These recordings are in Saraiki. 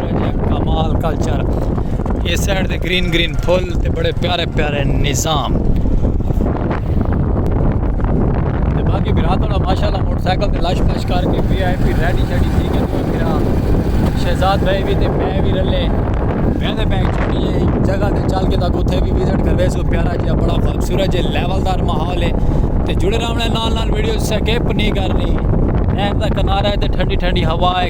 جیہاں کمال کلچر اے سائیڈ تے گرین گرین پھول تے بڑے پیارے پیارے نظام تے باقی بھرا تھوڑا ماشاءاللہ موٹر سائیکل تے لش پش کر کے وی آئی پی ریڈی شیڈی تھی کے دوے بھرا شہزاد بھائی وی تے میں وی رلے میں تے بینک چھوڑی اے جگہ تے چل کے تاکہ اتھے وی وزٹ کروے سو پیارا جیہاں بڑا خوبصورت جے لیول دار ماحول اے تے جڑے رہنا نال نال ویڈیو سکپ نہیں کرنی نہر دا کنارہ اے تے ٹھنڈی ٹھنڈی ہوا اے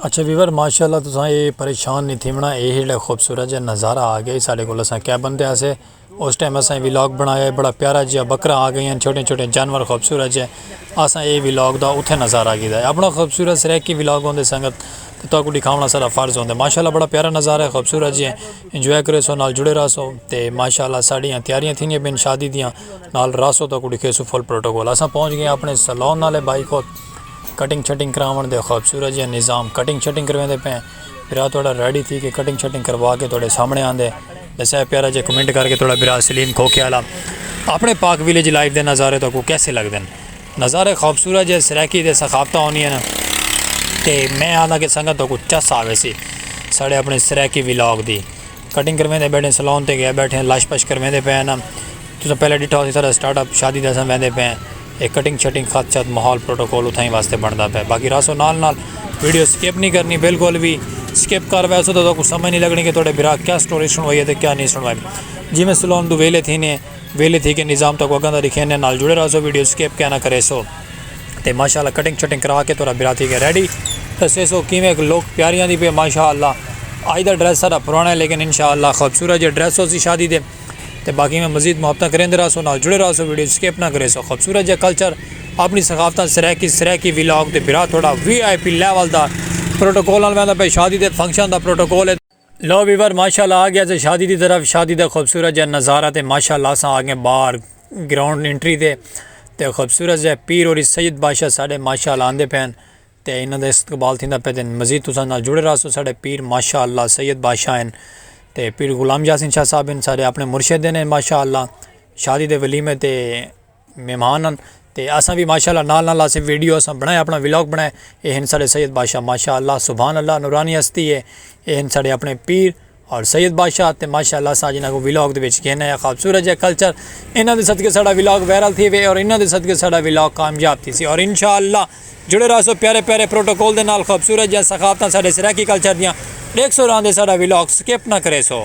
اچھا ویور ماشاءاللہ تساں اے پریشان نہیں تھیونا اے ہیڑا خوبصورت جا نظارہ آ گیا ساڑے کول اساں کیا بندے آسے اس ٹائم اساں ویلاگ بنایا بڑا پیارا جیا بکرا آ گئیاں چھوٹے چھوٹے جانور خوبصورت جے اساں اے ویلاگ دا اتھے نظارہ گیدا ہے اپنا خوبصورت سرائیکی ویلاگ ہوندے سنگت تو کو دکھاونا سارا فرض ہوندے ماشاءاللہ بڑا پیارا نظارہ ہے خوبصورت جے انجوائے کریسو نال جڑے راہسو تے ماشاءاللہ ساڈیاں تیاریاں تھیندیاں پئین شادی دیاں نال راہسو تہاکوں ڈکھیسوں فل پروٹوکول اساں پہنچ گئے آں اپنڑے سلون نالے بھائی کول کٹنگ شٹنگ کراونڑ دے خوبصورت جیہا نظام کٹنگ شٹنگ کرویندے پئے ہیں بھرا تہاڈا ریڈی تھی کے کٹنگ شٹنگ کروا کے تہاڈے سامنڑے آندے بس اے پیارا جیہا کمنٹ کر کے تہاڈا بھرا سلیم کھوکھے آلا اپنڑے پاک ویلیج لائف دے نظارے تہاکوں کیسے لگدن۔ نظارے خوبصورت جے سرائیکی تے ثقافتاں ہوندیاں تے میں آہداں کہ سنگت تہاکوں چس آ ویسی ساڑے اپنے سرائیکی ولاگ دی۔ کٹنگ کرویندے بیٹھے ہیں سلون تے گئے بیٹھے ہیں لش پش کرویندے پئے ہیں تساں پہلے ڈٹھا ہوسی ساڑا سٹارٹ اپ شادی تے اساں ویندے پئے ہیں اے کٹنگ شٹنگ خط شط ماحول پروٹوکول اتھائیں واسطے بنڑدا پئے باقی رہسو نال نال ویڈیو سکپ نی کرنی بالکل وی سکپ کر ویسو تاں تہاکوں سمجھ نی لگنی کہ تہاڈے بھرا کیا سٹوری سنڑوائی ہے تے کیا نی سنڑوائی جیویں سلون توں ویلھے تھینے۔ ویلے تھی گئے نظام تکو اگاں دا ڈکھینے نال جڑے راہسو ویڈیو سکپ کیانا کریسو تے ماشاءاللہ کٹنگ شٹنگ کرا کے تہاڈا برا تھی گئے ریڈی دسیسو کیویں لوک پیاری آندی پی ماشاءاللہ اج دا ڈریس ساڈا پرانا ہے لیکن انشاءاللہ خوبصورت جے ڈریس ہوسی شادی دے تے باقی میں مزید محبتاں کریندے راہسو نال جڑے راہسو ویڈیو سکپ نہ کریسو خوبصورت جے کلچر اپنی ثقافتاں سرائیکی سرائیکی ویلاگ تے بھرا تہاڈا وی آئی پی لیول دا پروٹوکول نال ویندا پے شادی دے فنکشن دا پروٹوکول ہے۔ لو ویور ماشاء اللہ آگیا سے شادی دی طرف شادی دا خوبصورت جا نظارہ تے ماشاء اللہ سا آگے باہر گراؤنڈ انٹری دے تے خوبصورت جا پیر اور سید بادشاہ ساڑے ماشاء اللہ آندے پین تے انہاں دے استقبال تھیندہ پین تے مزید تساں نال جڑے رہا سو ساڑے پیر ماشاء اللہ سید بادشاہ ہیں تے پیر غلام یاسین شاہ صاحب ہیں ساڑے اپنے مرشد ہیں ماشاء اللہ شادی دے ولیمے تے مہمان ہن تے اساں وی ماشاءاللہ نال نال اساں ویڈیو اساں بنڑائے اپنا ولاگ بنڑائے اے ہن ساڈے سید بادشاہ ماشاءاللہ سبحان اللہ نورانی ہستی اے اے ہن ساڈے اپنے پیر اور سید بادشاہ تے ماشاءاللہ اساں اج انہاں کوں ولاگ دے وچ گھن آئے آں خوبصورت جیہا کلچر انہاں دے صدقے ساڈا ولاگ وائرل تھیوے اور انہاں دے صدقے ساڈا ولاگ کامیاب تھیسی اور انشاءاللہ جڑے رہسو پیارے پیارے پروٹوکول دے نال خوبصورت جیاں ثقافتاں ساڈے سرائیکی کلچر دیاں ڈیکھسو راہندے ساڈا ویلاگ سکپ نہ کریسو۔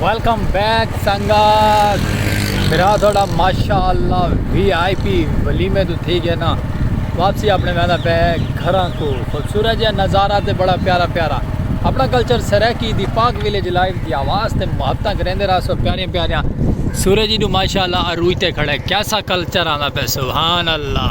ویلکم بیک سنگت میرا تھوڑا ماشاء اللہ وی آئی پی ولی میں تو تھی گیا نا واپسی اپنے ویندہ پہ گھر کو خوبصورت جہاں نظارہ تے بڑا پیارا پیارا اپنا کلچر سریکی دی پاک ویلیج لائف دی آواز تے محبتہ گریندے رہا سو پیاریاں پیاریاں سورج جی نو ماشاء اللہ اروج تے کھڑے کیسا کلچر آنا پہ سبحان اللہ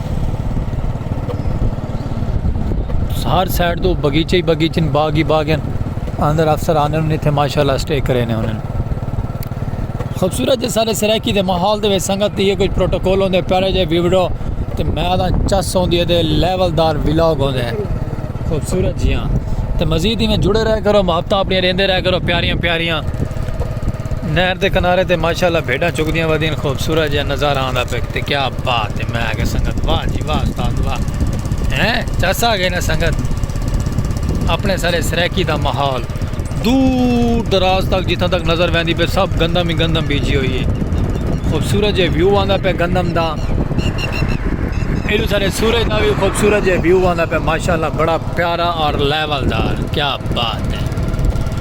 ہر سائڈ تو بغیچے ہی بغیچے باغ ہی باغ ہیں اندر افسر آنے انہیں تھے ماشاءاللہ سٹے کرے نے انہیں خوبصورت جے سارے سرائکی دے محال دے وے سنگت دیئے کچھ پروٹوکول ہوندے پیارے جے ویوڈو تے میں آدھا چس ہوندی دے لیول دار ویلوگ ہوندے خوبصورت جیاں تے مزید ہی میں جڑے رہ کرو محبتہ اپنی رہندے رہ کرو پیاریاں پیاریاں نہر دے کنارے تے ماشاءاللہ بھیڈاں چگدیاں ودین خوبصورت جیہا نظارہ آندا پے تے کیا بات ہے میں آکھیا سنگت واہ جی واہ استاد واہ ہیں چس آ گئے نا سنگت اپنے سارے سرائیکی دا ماحول دور دراز تک جتھاں تک نظر ویندی پے سب گندم ہی گندم بیجی ہوئی ہے خوبصورت جے ویو آندا پے گندم دا ایڈو سارے سورج دا بھی خوبصورت جے ویو آندا پے ماشاءاللہ بڑا پیارا اور لیول دار کیا بات ہے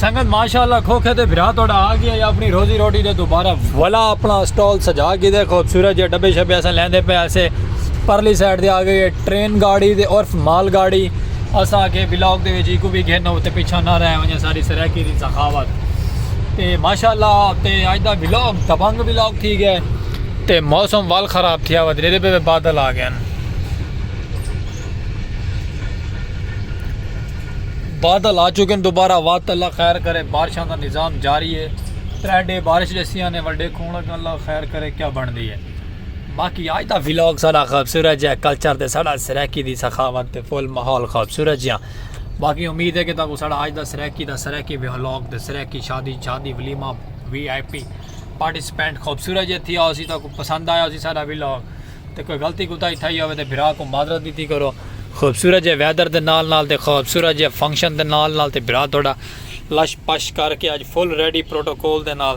سنگت ماشاءاللہ کھوکھے تے بھرا توڑا آ گیا یا اپنی روزی روٹی دے دوبارہ ولا اپنا اسٹال سجا گی دے خوبصورت جے ڈبے شبے اسا لیندے پہ اسے پرلی سائٹ دے آ گئے ٹرین گاڑی دے عرف مال گاڑی اسا کے بلاک دے ویچی کو بھی گھنو تے پیچھا نہ رہے ہوں ساری سرائکی دی سخاوت تے ماشاءاللہ تے اج دا ولاگ دبنگ ولاگ تھی گئے تے موسم وال خراب تھیا ہوا دریرے پہ بادل آ گئے بادل آ چکے ہیں دوبارہ وات اللہ خیر کرے بارشاں دا نظام جاری ہے ترے ڈے بارش جسیاں نے وڈے کھون لگا اللہ خیر کرے کیا بن دی ہے باقی آج دا ولاگ سارا خوبصورت جا کلچر تے سارا سرائیکی دی سخاوت تے فل ماحول خوبصورت جا باقی امید ہے کہ تاں کو ساڑا آج دا سرائیکی دا سرائیکی ویہلاگ تے سرائیکی شادی شادی ولیمہ وی آئی پی پارٹیسپینٹ خوبصورت جے تھی آسی تاں کو پسند آیا اسی ساڑا ویلاگ تے کوئی غلطی کوتا ہی تھا ہی ہوئے تے بھرا کو معذرت بھی تھی کرو خوبصورت جے ویدر دے نال نال تے خوبصورت جے فنکشن دے نال نال تے بھرا توڑا لش پش کر کے آج فل ریڈی پروٹوکول دے نال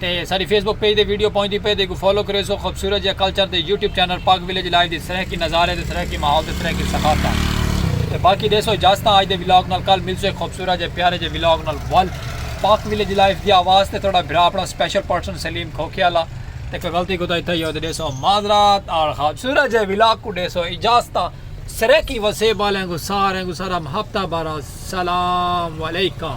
تے ساݙی فیس بک پیج تے ویڈیو پہنچدی پئے تے ایکوں فالو کریسو خوبصورت جیہا کلچر تے YouTube channel Pak village live دی سرائیکی نظارے تے سرائیکی ماحول تے سرائیکی ثقافتاں تے باقی ݙیسو اجازتاں اڄ دے ولاگ نال کل ملسوں ہک خوبصورت جے پیارے جے ولاگ نال ول پاک ولیج لائیو دی آواز تے تہاݙا بھرا اپݨا سپیشل پرسن سلیم کھوکھے آلا تے کوئی غلطی کوتاہی تھئی ہووے تے ݙیسو معذرات آڑ خوبصورت جے ولاگ کوں ݙیسو اجازتاں سرائیکی وسیب آلیاں کوں ساریاں کوں ساݙا محبتاں بھرا سلام علیکم۔